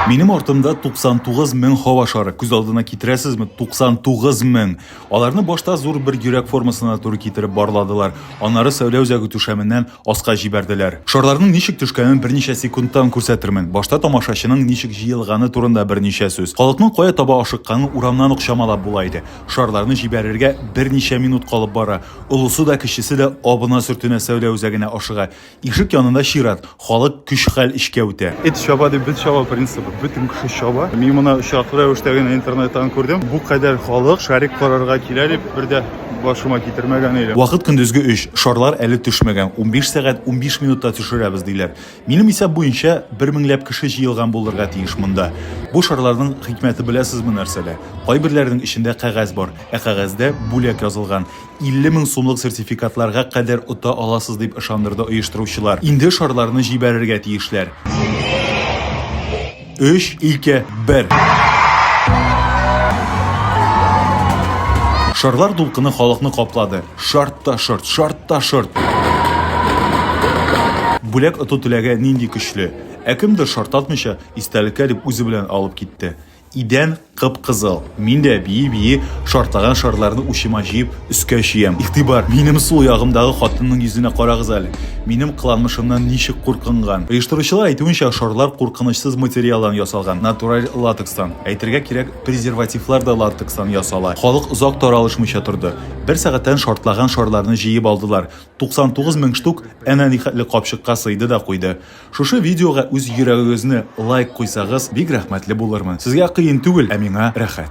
Минем артымда 99 мең һава шары. Күз алдына китерәсезме? 99 мең. Аларны башта зур бер йөрәк формасына туры китереп барладылар. Аннары сәүлә үзәге түшәменнән аска җибәрделәр. Шарларның ничек төшкәнен берничә секундтан күрсәтермен. Башта тамашачының ничек җыелганы турында берничә сүз. Халыкның кая таба ашыкканын урамнан ук чамалап була иде. Шарларны җибәрергә берничә минут калып бара. Олысы да, кечесе дә абына-сөртенә сәүлә үзәгенә ашыга. Ишек янында чират, халык көч-хәл эшкә үтә. Эт чаба дип без чаба принцибы, бөтен кеше чаба. Мин моны очраклы рәвештә генә интернеттан күрдем. Бу кадәр халык шарик карарга килә дип бер дә башыма китермәгән идем. Вакыт көндезге өч, шарлар әле төшмәгән, унбиш сәгать унбиш минутта төшерәбез, диләр. Минем исәп буенча, бер меңләп кеше җыелган булырга тиеш монда. Бу шарларның хикмәте беләсезме нәрсәдә? Кайберләренең эчендә кәгазь бар, ә кәгазьдә бүләк язылган. 50 мең сумлык сертификатларга кадәр ота аласыз, дип ышандырды оештыручылар. Инде шарларны җибәрергә тиешләр. Өч, ике, бер! Шарлар дулкыны халыкны каплады. Шарт та шорт, шарт та шорт! Бүләк оту теләге нинди көчле! Ә кемдер, шартатмыйча, истәлеккә дип үзе белән алып китте. Идән кып-кызыл. Мин дә, бии-бии, шартлаган шарларны учыма җыеп, өскә чөям. Игътибар! Минем сул ягымдагы хатынның йөзенә карагыз әле! Минем кыланмышымнан ничек куркынган! Оештыручылар әйтүенчә, шарлар куркынычсыз материалдан ясалган, натураль латекстан. Әйтергә кирәк, презервативлар да латекстан ясала. Халык озак таралышмыйча торды. Бер сәгатьтән шартлаган шарларны җыеп алдылар. 99 мең штук әнә нихәтле капчыкка сыйды да куйды. Шушы видеога үз йөрәгегезне лайк куйсагыз бик рәхмәтле булырмын. Сезгә кыен түгел, ә миңа рәхәт.